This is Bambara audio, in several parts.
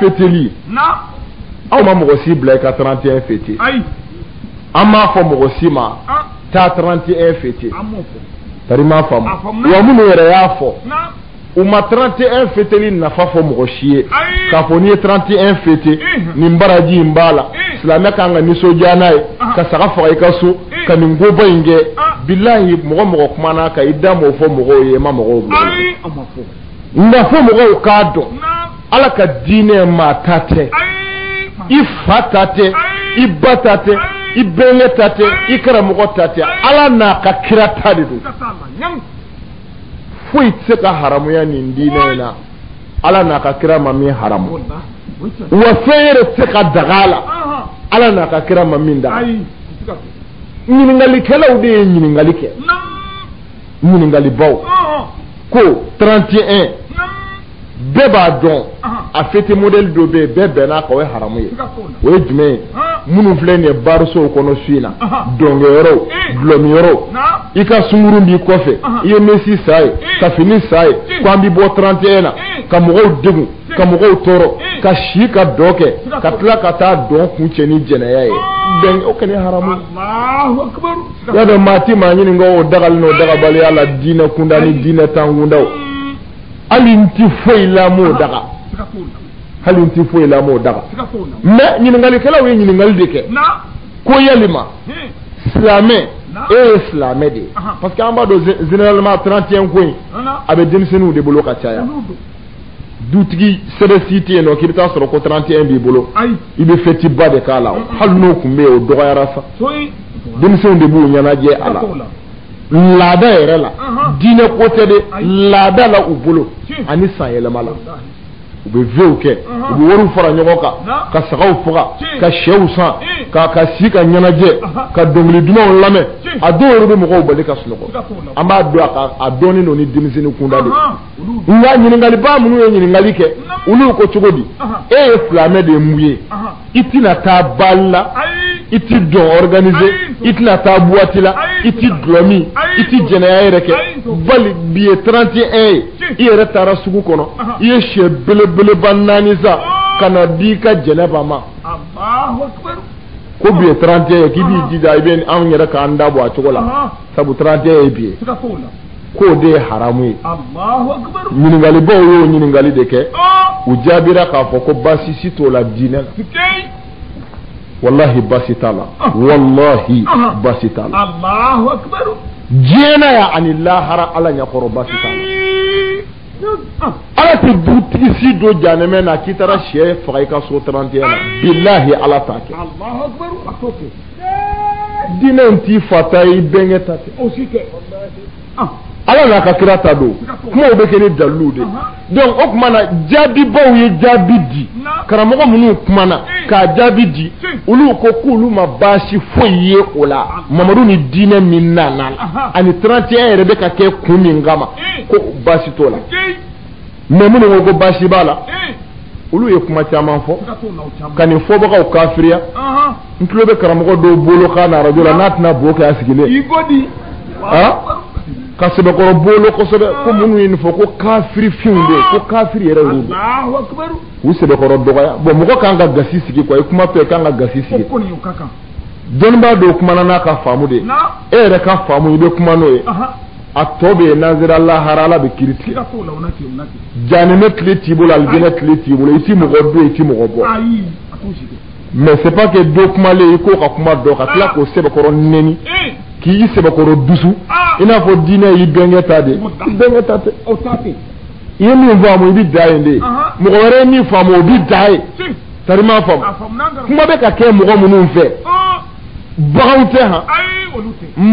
feteli aw ma mɔgɔ si bila i ka 31 fete an m'a fɔ mɔgɔ si ma ah. taa 31 fete tari m'a faamu wa minnu yɛrɛ y'a fɔ u ma 31 feteli nafa fɔ mɔgɔ si ye k'a fɔ n'i ye 31 fete nin baraji in b'a la silamɛ kan ka nisɔndiya n'a ye ah. ka saga faga i ka so ka nin koba in kɛ ah. bilahi mɔgɔ mɔgɔ kumana ka i da m'o fɔ mɔgɔw ye i ma mɔgɔw bila nka fo mɔgɔw k'a dɔn ala ka diinɛ maa ta tɛ i fa ta tɛ i ba ta tɛ i bɛnkɛ ta tɛ i karamɔgɔ ta tɛ ala n'a ka kira ta de don foyi tɛ se ka haramuya nin diinɛ in na ala n'a ka kira ma min haramu wa fɛn yɛrɛ tɛ se ka daga a la ala n'a ka kira ma min daga ɲininkalikɛlaw de ye ɲininkali kɛ ɲininkalibaw ko 31 bɛɛ b'a dɔn a fete modɛli dɔ bɛ yen bɛɛ bɛnna a kan o ye haramu ye o ye jumɛn ye minnu filɛ nin ye barosow kɔnɔ su in na dɔnkɛyɔrɔw dulɔminyɔrɔw i ka sungurun b'i kɔfɛ i ye mɛsi san a ye ka fini san a ye ko an bɛ bɔ 31 na ka mɔgɔw degun ka mɔgɔw tɔɔrɔ ka si ka dɔn kɛ ka tila ka taa dɔn kuncɛ ni jɛnɛya ye o kɛlen haramu Y'a dɔn maa tɛ maa ɲininka o dagali n'o dagabaliya la diinɛ kunda ni diinɛ tan kundaw hali n tɛ foyi la m'o daga hali n tɛ foyi la m'o daga mais ɲininkalikɛlaw ye ɲininkali de kɛ ko yalima silamɛ e ye silamɛ de ye parce que an b'a dɔn généralement 31 ko in a bɛ denmisɛnninw de bolo ka caya dutigi sɛbɛ si tɛ yen nɔ k'i bɛ taa sɔrɔ ko 31 b'i bolo i bɛ fɛti ba de k'a la hali n'o tun bɛ yen o dɔgɔyara sa denmisɛnw de b'u ɲɛnajɛ a la laada yɛrɛ la diinɛ ko tɛ de laada la u bolo ani san yɛlɛma la u bɛ vew kɛ u bɛ wariw fara ɲɔgɔn kan ka sagaw faga ka sɛw san ka si ka ɲɛnajɛ ka dɔnkili dumanw lamɛn a dɔw yɛrɛ bɛ mɔgɔw bali ka sunɔgɔ an b'a dɔn a dɔɔnin don ni denmisɛnnin kunda de nka ɲininkaliba minnu ye ɲininkali kɛ olu ko cogo di e ye silamɛ de ye mun ye i tɛna taa baali la i tɛ dɔn ɔriganize i tɛna taa buwati la i tɛ dulɔ min i tɛ jɛnɛya yɛrɛ kɛ bali bi ye 31 ye i yɛrɛ taara sugu kɔnɔ i ye sɛ belebeleba naani san ka na di i ka jɛnɛba ma ko bi ye 31 ye k'i b'i jija i bɛ anw yɛrɛ k'an da bɔ a cogo la sabu 31 ye bi ye. k'o de ye haramu ye ɲininkalibaw y'o ɲininkali de kɛ u jaabira k'a fɔ ko baasi si t'o la diinɛ la walahi baasi t'a la walahi baasi t'a la diɲɛ na yan ani lahara ala ɲɛkɔrɔ baasi t'a la ala tɛ dutigi si don janɛmɛ na k'i taara sɛ faga i ka so 31 na bilahi ala t'a kɛ diinɛ in t'i fa ta ye i bɛnkɛ ta tɛ o si tɛ ah. ala n'a ka kira ta don kumaw bɛ kɛ ni dalilu de donc o tuma na jaabibaw ye jaabi di karamɔgɔ minnu kumana k'a jaabi di olu ko k'olu ma baasi foyi ye o la mamadu ni diinɛ min nana la ani 31 yɛrɛ bɛ ka kɛ kun min kama ko baasi t'o la mais minnu ko ko baasi b'a la olu ye kuma caman fɔ ka nin fɔbagaw kafiriya n tulo bɛ karamɔgɔ dɔw bolo kan na arajo la n'a tɛna bo kɛ a sigilen ka sɛbɛkɔrɔ bolo kosɛbɛ ko minnu ye nin fɔ ko kafiri finw de ko kafiri yɛrɛ y'u de u sɛbɛkɔrɔ dɔgɔya bɔn mɔgɔ kan ka gasi sigi quoi i kumatɔ i kan ka gasi sigi dɔnnibaa dɔ kumana n'a ka faamu de ye e yɛrɛ ka faamu i bɛ kuma n'o ye a tɔ bɛ yen n'an sera lahara ala bɛ kiiri tigɛ janɛmɛ kile t'i bolo alijinɛ kile t'i bolo i ti mɔgɔ don i ti mɔgɔ bɔ mais c'est pas que dɔ kumalen i k'o ka kuma dɔn ka tila k'o sɛbɛkɔrɔ nɛni k'i sɛbɛkɔrɔ dusu i n'a fɔ diinɛ y'i bɛnkɛ ta de i bɛnkɛ ta tɛ i ye min faamu i bɛ dan yen de mɔgɔ wɛrɛ ye min faamu o bɛ dan yen tari m'a faamu kuma bɛ ka kɛ mɔgɔ minnu fɛ baganw tɛ han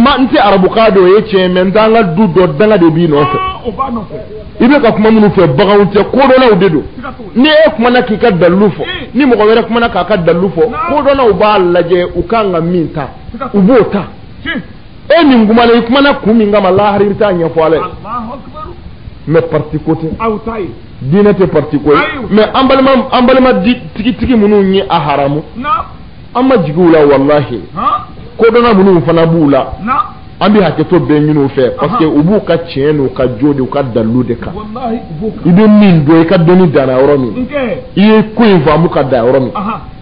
an tɛ arabukan dɔn o ye tiɲɛ mais n t'an ka du dɔ danga de b'i nɔfɛ i bɛ ka kuma minnu fɛ baganw tɛ kodɔnnaw de don ni e kumana k'i ka dalilu fɔ ni mɔgɔ wɛrɛ kumana k'a ka dalilu fɔ kodɔnnaw b'a lajɛ u kan ka min ta u b'o ta e min kumana i kumana kun min kama lahara i bɛ t'a ɲɛfɔ ala ye mais parti ko tɛ diinɛ tɛ parti ko ye mais an balima tigitigi minnu ye a haramu an ma jigin u la walahi kodɔnna minnu fana b'u la an bɛ hakɛto bɛɛ ɲini u fɛ parce que u b'u ka tiɲɛ n'u ka jo de u ka dalilu de kan i bɛ min dɔn i ka dɔnni danna yɔrɔ min i ye ko in faamu ka dan yɔrɔ min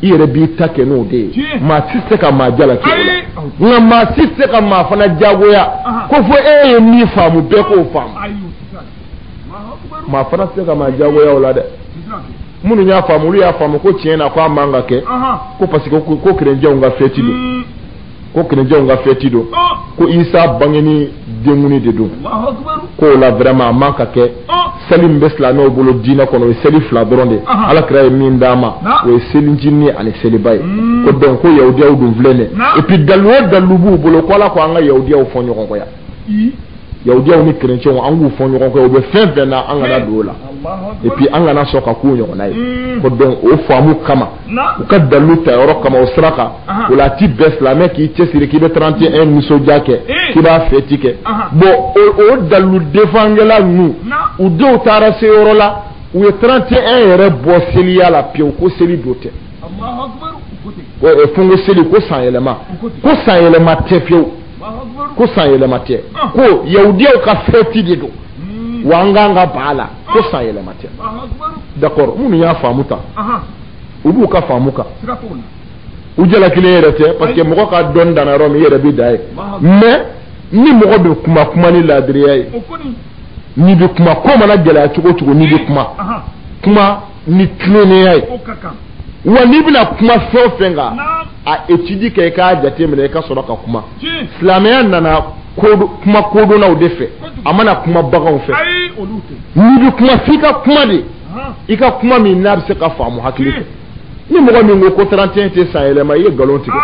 i yɛrɛ b'i ta kɛ n'o de ye maa si tɛ se ka maa jalaki o la nka maa si tɛ se ka maa fana jagoya ko fo e ye min faamu bɛɛ k'o faamu maa fana tɛ se ka maa jagoya o la dɛ minnu y'a faamu olu y'a faamu ko tiɲɛ na ko a man ka kɛ ko parce que ko kerecɛnw ka fɛti don hmm. ko kerecɛnw ka fɛti don oh. ko isa bangeni denkuni de don ko o la vraiment a man ka kɛ oh. seli min bɛ silamɛw bolo diinɛ kɔnɔ o ye seli fila dɔrɔn de ye ala kira ye min d'an ma o ye selicinin ani seliba ye hmm. ko donc ko yahudiyaw dun filɛ nin ye et puis dalilu o dalilu b'u bolo ko ala ko an ka yahudiyaw fɔɲɔgɔnkɔya yahudiyaw ni kerecɛnw an k'u fɔ ɲɔgɔn kɔ u bɛ fɛn fɛn na an kana don o la et puis an kana sɔn ka k'u ɲɔgɔnna ye hmm. ko donc o faamu kama u ka dalilu ta yɔrɔ kama o sira kan o la a ti bɛn silamɛ k'i cɛsiri k'i bɛ 31 nisɔndiya kɛ k'i b'a fɛti kɛ bon o dalilu defangɛla ninnu u denw taara se yɔrɔ la u ye 31 yɛrɛ bɔ seliya la pewu ko seli don tɛ fungo seli ko sanyɛlɛma ko sanyɛlɛma tɛ pewu ko san yɛlɛma tɛ ko yahudiyaw ka fɛti de don hmm. wa an kan ka ban a la ko san yɛlɛma tɛ d'accord minnu y'a faamu ta u b'u ka faamu kan u jalakilen yɛrɛ tɛ parce que mɔgɔ ka dɔn danna yɔrɔ min i yɛrɛ bɛ dan yen mais ni mɔgɔ bɛ kuma kuma ni laadiriya ye n'i bɛ kuma ko mana gɛlɛya cogo o cogo n'i bɛ kuma kuma ni tilennenya ye wa n'i bɛna kuma fɛn o fɛn kan a étude kɛ i k'a jateminɛ i ka sɔrɔ ka kuma silamɛya nana kuma kodɔnnaw de fɛ a ma na kuma baganw fɛ n'i bɛ kuma f'i ka kuma de i ka kuma min n'a bɛ se ka faamu hakili fɛ ni mɔgɔ min ko ko 31 tɛ san yɛlɛma i ye nkalon tigɛ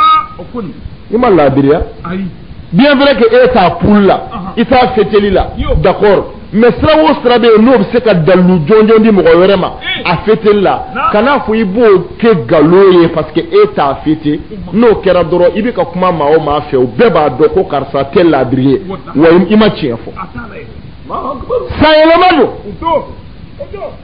i ma laadiriya bien vrai que e t'a poule la i t'a fêteli la d'accord mais sira o sira bɛ yen n'o bɛ se ka dalilu jɔnjɔn di mɔgɔ wɛrɛ ma a fêteli la kan'a fɔ i b'o kɛ nkalon ye parce que e t'a fêter n'o kɛra dɔrɔn i bɛ ka kuma maa o maa fɛ o bɛɛ b'a dɔn ko karisa tɛ laadiri ye wa i ma tiɲɛ fɔ sanyɛlɛma don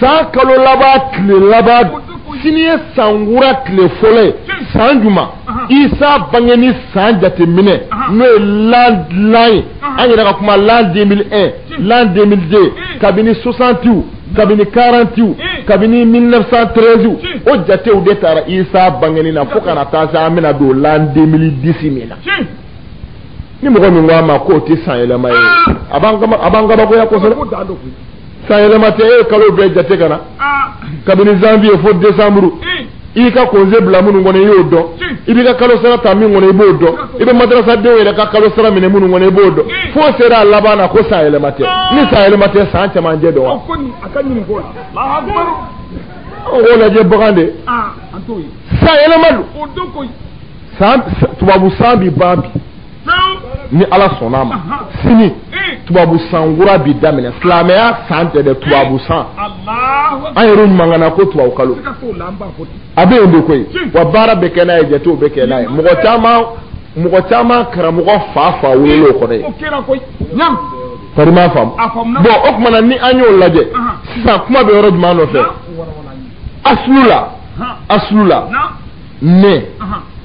San kalo laban tile laban sini ye sankura tile fɔlɔ ye san jumɛn isa bangeni san jateminɛ n'o ye l'an ye an yɛrɛ ka kuma l'an 2001 l'an 2002 kabini 60 kabini 40 kabini 1913 o jatew de taara isa bangeni na fo ka na taa se an bɛna don l'an 2010 min na ni mɔgɔ min ko a ma k'o tɛ san yɛlɛma ye a b'an kabakoya kosɛbɛ sanyɛlɛma tɛ e ye kalo bɛɛ jate ka na kabini janvier fo décembre i ka congé bila minnu kɔnɔ i y'o dɔn i b'i ka kalo sara ta min kɔnɔ i b'o dɔn i bɛ madarasadenw yɛrɛ ka kalo sara minɛ minnu kɔnɔ i b'o dɔn fo sera a laban na ko san yɛlɛma tɛ ni san yɛlɛma tɛ san cɛmancɛ don wa o k'o lajɛ bagan de san yɛlɛma don tubabu san bi ban bi ni ala sɔnna a ma sini tubabu san kura bi daminɛ silamɛya san tɛ dɛ tubabu san an yɛrɛ ɲumankana ko tubabu kalo a bɛ yen de koyi wa baara bɛ kɛ n'a ye jatew bɛ kɛ n'a ye mɔgɔ caman mɔgɔ caman karamɔgɔ fa fa wolo kɔrɔ ye kɔni m'a faamu bon o tuma na ni an y'o lajɛ sisan kuma bɛ yɔrɔ jumɛn nɔfɛ asulu la asulu la ne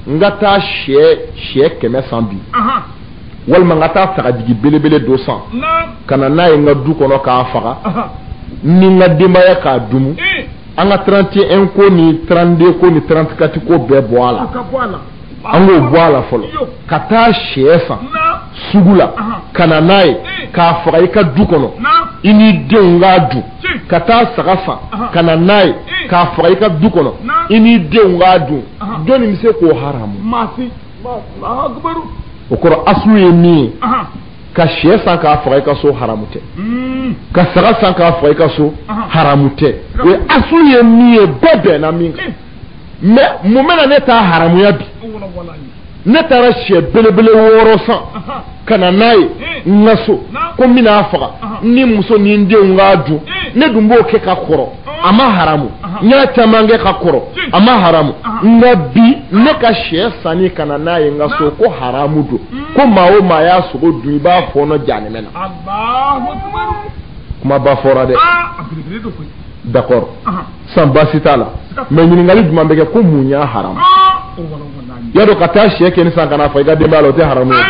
n ka taa sɛ sɛ kɛmɛ san bi walima n ka taa sagajigi belebele dɔ san ka na n'a ye n ka du kɔnɔ k'a faga ni n ka denbaya k'a dumu an ka trente et un ko ni trente-deux ko ni trente-quatre ko bɛɛ bɔ a la an k'o bɔ a la fɔlɔ ka taa sɛ san sugu la ka na n'a ye k'a faga i ka du kɔnɔ i n'i denw k'a dun ka taa saga san ka na n'a ye k'a faga i ka du kɔnɔ i n'i denw k'a dun jɔnni bɛ se k'o haramu o kɔrɔ asulu ye min ye ka sɛ san k'a faga i ka so haramu tɛ hmm. ka saga san k'a faga i ka so haramu tɛ o ye asulu ye min ye bɛɛ bɛnna min kan mais mun bɛna ne ta haramuya bi ne taara sɛ belebele wɔɔrɔ san ka na n'a ye n ka so ko n bɛna a faga ni muso ni n denw k'a dun ne dun b'o kɛ ka kɔrɔ a ma haramu n y'a caman kɛ ka kɔrɔ a ma haramu nka bi ne ka sɛ sanni ka na n'a ye n ka so ko haramu don ko maa o maa y'a sogo dun i b'a fɔɔnɔ jahanama na Alahu akibaru kuma ba fɔra dɛ d'accord san basi t'a la mais ɲininkali jumɛn bɛ kɛ ko mun y'a haramu y'a dɔn ka taa sɛ kelen san ka n'a faga i ka denbaya la o tɛ haramu ye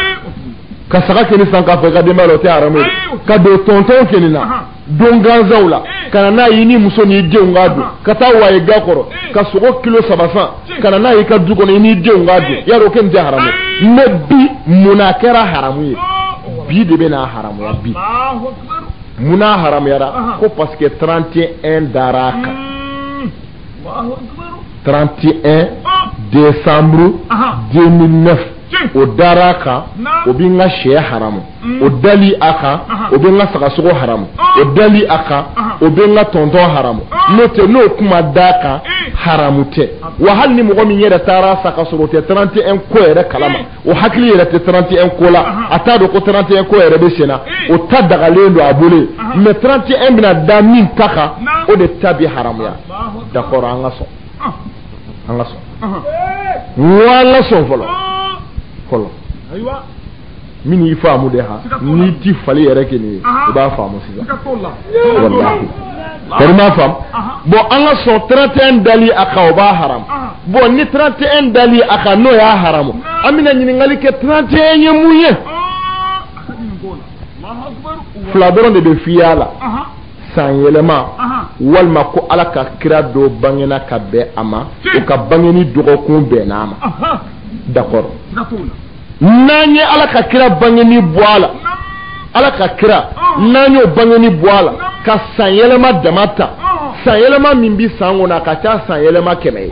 ka saga kelen san k'a faga i ka denbaya la o tɛ haramu ye ka don tɔntɔn kelen na don gansanw la ka na n'a y'i ni muso n'i denw k'a dun ka taa waye ga kɔrɔ ka sogo kilo saba san ka na n'a y'i ka du kɔnɔ i n'i denw k'a dun y'a dɔn o kelen tɛ haramu ye mais bi mun na a kɛra haramu ye bi de bɛ n'a haramuya bi munna a haramuyara ko parce que trente et un dara a kan trente et un décembre deux mille neuf o dara a kan o bɛ n ka shɛ haramu o dali a kan o bɛ n ka sagasogo haramu o dali a kan o bɛ n ka tɔntɔn haramu n'o tɛ n'o kun ma da a kan haramu tɛ wa hali ni mɔgɔ min yɛrɛ taara a san ka sɔrɔ o tɛ trente et un ko yɛrɛ kalama O hakili yɛrɛ tɛ 31 ko la, anhan, a t'a dɔn ko 31 ko yɛrɛ bɛ senna, ee, o ta dagalen don a bolo yen, anhan, mais 31 bɛna da min ta kan, naamu, o de ta bɛ haramuya, Alahu akibaru, d'accord an ka sɔn, ɔnhɔn, an ka sɔn, ɔnhɔn, ee, an ka sɔn fɔlɔ, ɔɔ, fɔlɔ, ayiwa, min y'i faamu dɛ han, siga t'o la, n'i tɛ fali yɛrɛ kelen ye, anhan, i b'a faamu sisan, siga t'o la, walahi. Bari ma faamu. Bon an ka sɔn 31 dali a kan o b'a haram. Bon ni 31 dali a kan n'o y'a haram an bɛna ɲininkali kɛ 31 ye mun ye? Fila dɔrɔn de bɛ f'i ye a la. San yɛlɛma walima ko Ala ka kira dɔ bangena ka bɛn a ma, o ka bangeni dɔgɔkun bɛnna a ma d'accord . n'an ye ala ka kira bangeni bɔ a la ala ka kira n'an y'o bangeni bɔ a la ka san yɛlɛma dama ta san yɛlɛma min bɛ san kɔnɔ a ka ca san yɛlɛma kɛmɛ ye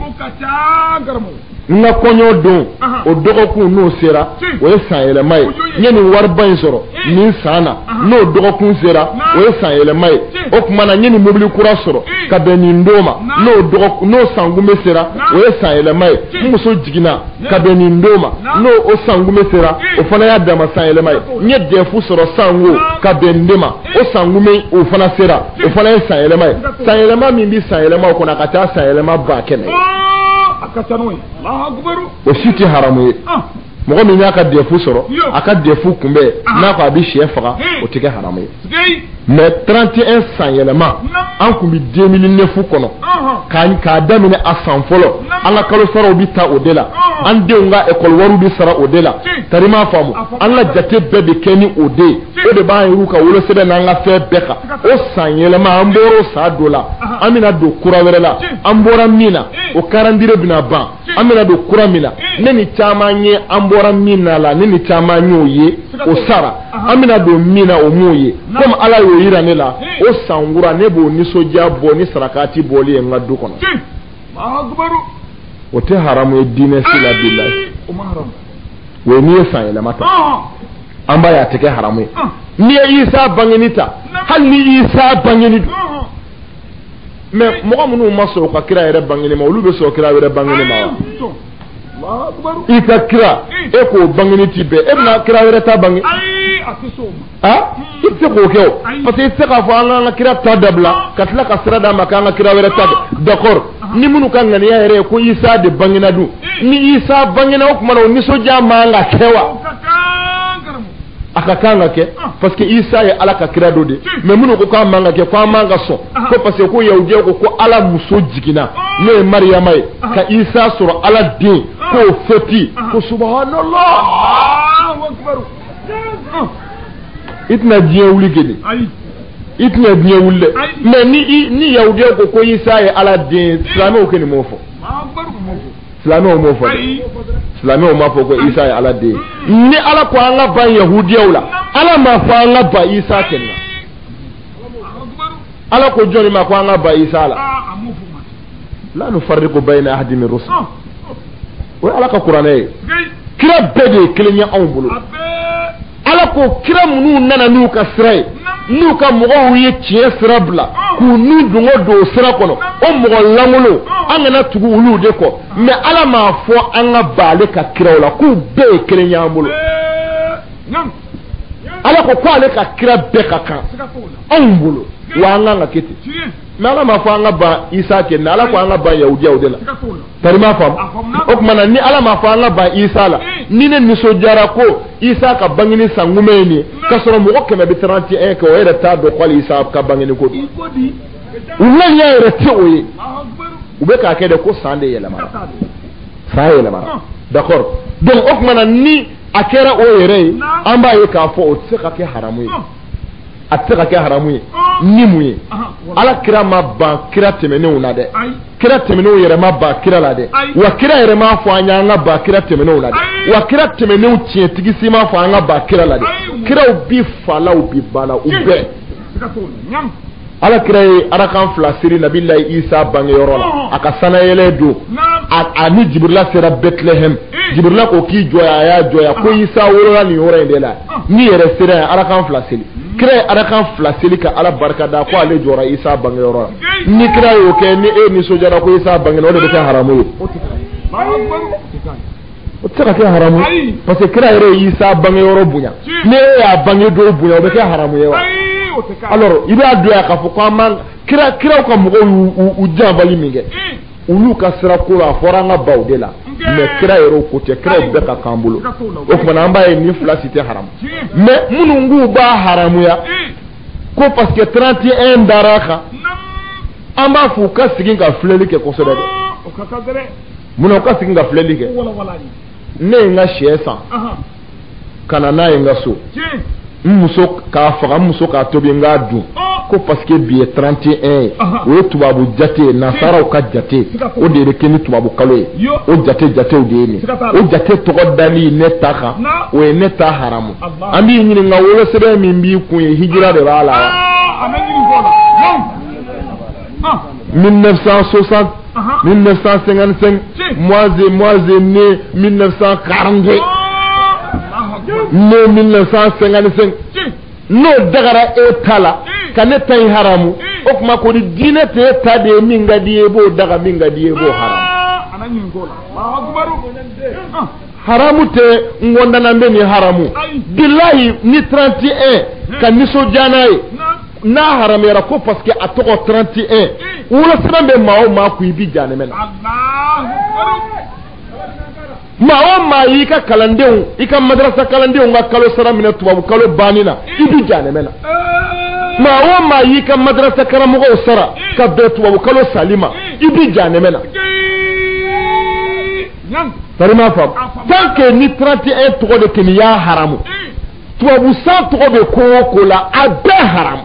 n ka kɔɲɔ don o dɔgɔkun n'o sera o ye san yɛlɛma ye n ye nin wariba in sɔrɔ nin san na n'o dɔgɔkun sera o ye san yɛlɛma ye o tuma na n ye nin mobili kura sɔrɔ ka bɛn nin don ma n'o n'o sankunbɛn sera o ye san yɛlɛma ye n muso jiginna ka bɛn nin don ma n'o o sankunbɛn sera o fana y'a dama san yɛlɛma ye n ye dɛfu sɔrɔ sanko ka bɛn nin de ma o sankunbɛn o fana sera o fana ye san yɛlɛma ye san yɛlɛma min bɛ san yɛlɛma o kɔnɔ a ka ca san yɛlɛma ba kɛmɛ o si tɛ haramu ye mɔgɔ min y'a ka dɛfu sɔrɔ a ka dɛfu kunbɛn n'a ko a bɛ shɛ faga o tɛ kɛ haramu ye mais trente et un san yɛlɛma an tun bɛ deux mille neuf kɔnɔ k'a daminɛ a san fɔlɔ an ka kalo saraw bɛ taa o de la an denw ka ekɔli wari bɛ sara o de la tari m'a faamu an la jate bɛɛ bɛ kɛ ni o de ye o de b'an yɛrɛw ka wolosɛbɛn n'an ka fɛn bɛɛ kan o san yɛlɛma an bɔra san dɔ la an bɛna don kura wɛrɛ la an bɔra min na o calendrier bɛna ban an bɛna don kura min na ne ni caman ye an bɔra min na la ne ni caman y'o ye o sara an bɛna don min na o m'o ye komi ala y'o yira ne la o san kura ne b'o nisɔndiya bɔ ni sarakati bɔli ye n ka du kɔnɔ o tɛ haramu ye diinɛ si la billahi o ye n'i ye san yɛlɛma ta an b'a ye a tɛ kɛ haramu ye n'i ye isa bangeni ta hali ni isa bangeni don mais mɔgɔ minnu ma sɔn u ka kira yɛrɛ bangeni ma olu bɛ sɔn kira wɛrɛ bangeni ma i ka kira e k'o bangeni tɛ bɛn e bɛna kira wɛrɛ ta bange i tɛ k'o kɛ o parce que i tɛ se k'a fɔ an k'an ka kira ta dabila ka tila ka sira d'a ma k'an ka kira wɛrɛ ta d'accord ni minnu ka ŋaniya yɛrɛ ye ko isa de bangena dun ni isa bangena o tuma na o nisɔndiya man ka kɛ wa a ka kan ka kɛ parce que isa ye ala ka kira dɔ de mais minnu ko k'a man ka kɛ ko an man ka sɔn ko parce que ko yahudiyaw ko ko ala muso jiginna n'o ye mariyama ye ka isa sɔrɔ ala den k'o fɛti ko subhanallah i tɛna diɲɛ wuli geni i tɛna diɲɛ wuli dɛ mais ni ni yahudiyaw ko ko isa ye ala den silamɛw kɔni m'o fɔ silamɛw m'o fɔ dɛ silamɛw m'a fɔ ko isa ye ala den ni ala ko an ka ban yahudiyaw la ala m'a fɔ an ka ban isa kɔni na ala ko jɔnni ma ko an ka ban isa la la nufarriqu bayna ahadin min rusul o ye ala ka kuranɛ ye kira bɛɛ de ye kelen ye anw bolo ala ko kira minnu nana n'u ka sira ye n'u ka mɔgɔw ye tiɲɛ sira bila k'u n'u dungo don o sira kɔnɔ o mɔgɔ lankolon an kana tugu olu de kɔ mais ala m'a fɔ an ka ban ale ka kiraw la k'u bɛɛ ye kelen ye an bolo ala ko ko ale ka kira bɛɛ ka kan anw bolo wa an kan ka kɛ ten mais ala m'a fɔ an ka ban isa kɛ mɛ ala ko an ka ban yahudiyaw de la tari i m'a faamu o tuma na ni ala m'a fɔ an ka ban isa la ni ne nisɔndiyara ko isa ka bangeni san kunbɛn ye nin ye k'a sɔrɔ mɔgɔ kɛmɛ bɛ 31 kɛ o yɛrɛ t'a dɔn ko hali isa ka bangeni ko don u ŋaniya yɛrɛ tɛ o ye u bɛ k'a kɛ de ko san de yɛlɛmana san yɛlɛmana d'accord donc o tuma na ni a kɛra o yɛrɛ ye an b'a ye k'a fɔ o tɛ se ka kɛ haramu ye a tɛ se ka kɛ haramu ye ni mun ye ala kira ma ban kira tɛmɛnenw na dɛ kira tɛmɛnenw yɛrɛ ma ban kira la dɛ wa kira yɛrɛ m'a fɔ an y'an ka ban kira tɛmɛnenw la dɛ wa kira tɛmɛnenw tiɲɛtigi si m'a fɔ an ka ban kira la dɛ kiraw bi fa la u bi ba la u bɛɛ ala kira ye arakan fila seli nabila isa bangeyɔrɔ la a ka sanayɛlɛ don a ni jibrila sera bɛtilɛhɛm eh. jibrila ko k'i jɔ yan a y'a jɔ yan ko isa wolola nin yɔrɔ in de la n'i yɛrɛ sera yen arakan fila seli hmm. kira ye arakan fila seli ka ala barika da ko ale jɔra isa bangeyɔrɔ la ni kira y'o kɛ ni e nisɔndiyara ko isa bangena o de bɛ kɛ haramu ye o tɛ se ka kɛ haramu ye parce que kira yɛrɛ ye Isa bangeyɔrɔ bonya ni e y'a bange don bonya o bɛ kɛ haramu ye wa alors i b'a dɔn yan k'a fɔ ko an b'an kira kiraw ka mɔgɔw y'u u janbali min kɛ olu ka sira ko la a fɔra an ka ban o de la mais kira yɛrɛ o ko tɛ kiraw bɛɛ ka kan an bolo o tuma na an b'a ye nin fila si tɛ haramu mais minnu k'u b'a haramuya ko parce que 31 dara a kan an b'a fɔ u ka segin ka filɛli kɛ kosɛbɛ dɛ munna u ka segin ka filɛli kɛ ne ye n ka sɛ san ka na n'a ye n ka so n muso k'a faga n muso k'a tobi n k'a dun ko parce que bi ye 31 ye o ye tubabu jate ye nasaraw ka jate o de bɛ kɛ ni tubabu kalo ye o jate jatew de ye ni o jate tɔgɔ dali ne ta kan o ye ne ta haramu an b'i ɲininka wolosɛbɛn min b'i kun ye hijira de b'a la wa. 1960 1955 moi j'ai moi j'ai né 1942 ne 1955 n'o dagara e ta la ka ne ta in haramu o kuma kɔni diinɛ tɛ e ta de ye min ka di i ye i b'o daga min ka di i ye i b'o haramu haramu tɛ n kɔndanan bɛ nin haramu bilahi ni 31 ka nisɔndiya n'a ye n'a haramuyara ko parce que a tɔgɔ 31 wolosɛbɛn bɛ maa o maa kun i bɛ jahanɛmɛ na maa o maa y'i ka kalandenw i ka madarasa kalandenw ka kalo sara minɛ tubabu kalo banni na i bɛ jahanɛmɛ na maa o maa y'i ka madarasa karamɔgɔw sara ka bɛn tubabu kalo sali ma i bɛ jahanɛmɛ na tar'i m'a faamu tant que ni 31 tɔgɔ de kɛni y'a haramu tubabu san tɔgɔ bɛ ko o ko la a bɛɛ haram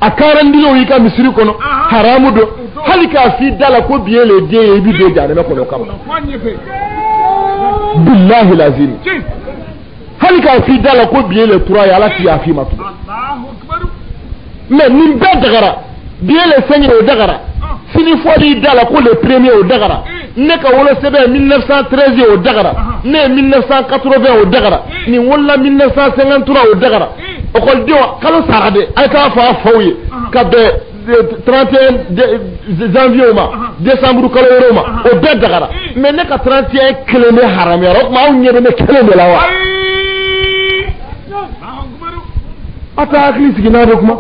a calendrier y'i ka misiri kɔnɔ haramu don hali k'a f'i da la ko bi ye le 2 ye i bi don jahanama kɔnɔ kama bilahi lazim hali k'a f'i da la ko bi ye le 3 ye ala ti yaf'i ma tugun mais nin bɛɛ dagara bi ye le 5 ye o dagara sini fɔli da la ko le premier o dagara ne ka wolosɛbɛn 1913 ye o dagara ne ye 1980 o dagara nin wolola 1953 o dagara ekɔlidenw kalo sara de a ye taa fɔ a faw ye ka bɛn 31 janvier ma décembre kalo wɛrɛw ma o bɛɛ dagara mais ne ka 31 kelen de haramuyara o tuma aw ɲɛ bɛ ne kelen de la wa a t'a hakili sigi n'a bɛ kuma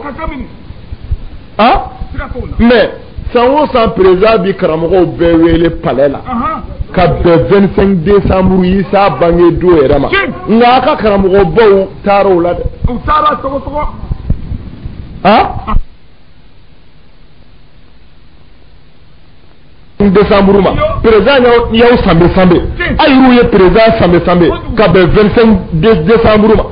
a mais san o san président bi karamɔgɔw bɛɛ wele palais la ka bɛn 25 décembre Isa bange don yɛrɛ ma nka a ka karamɔgɔbaw taara o la dɛ u taara sɔgɔsɔgɔ a décembre ma président y'aw sanbe sanbe a y'u ye président sanbe sanbe ka bɛn 25 décembre ma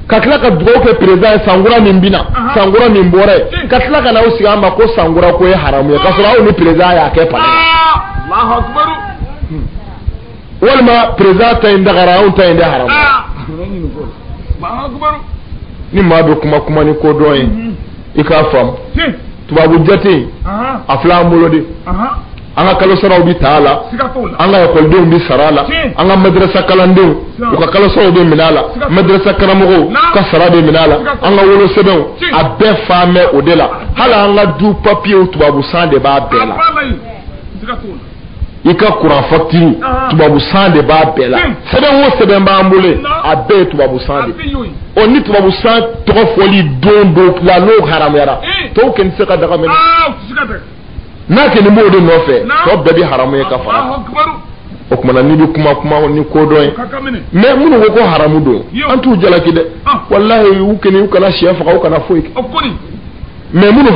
ka tila ka dugawu kɛ président ye sankura min bɛna sankura min bɔra ye ka tila ka n'aw sigi an ma ko sankura ko ye haramu ye ka sɔrɔ aw ni président y'a kɛ palais la walima président ta in dagara anw ta in de haramu ni maa bɛ kuma kuma ni kodɔn ye i k'a faamu tubabu jate a filɛ an bolo de an ka kalo saraw bɛ ta a la an ka ekɔlidenw bɛ sara a la an ka madrasa kalandenw u ka kalo saraw bɛ minɛ a la madrasa karamɔgɔw ka sara bɛ minɛ a la an ka wolosɛbɛnw a bɛɛ faamɛ o de la hali an ka du papiyew tubabu san de b'a bɛɛ la i ka kuran fakitiri tubabu san de b'a bɛɛ la sɛbɛn o sɛbɛn b'an bolo a bɛɛ ye tubabu san de ɔ ni tubabu san tɔgɔ fɔli don don la n'o haramuyara tɔw kɛni tɛ se ka daga minɛ n'a kɛni b'o de nɔfɛ tɔ bɛɛ bɛ haramu ye ka fara o kuma na n'i bɛ kuma kuma ni kodɔn ye mais minnu ko ko haramu don an t'u jalaki dɛ walahi u kɛni u kana sɛ faga u kana foyi kɛ mais minnu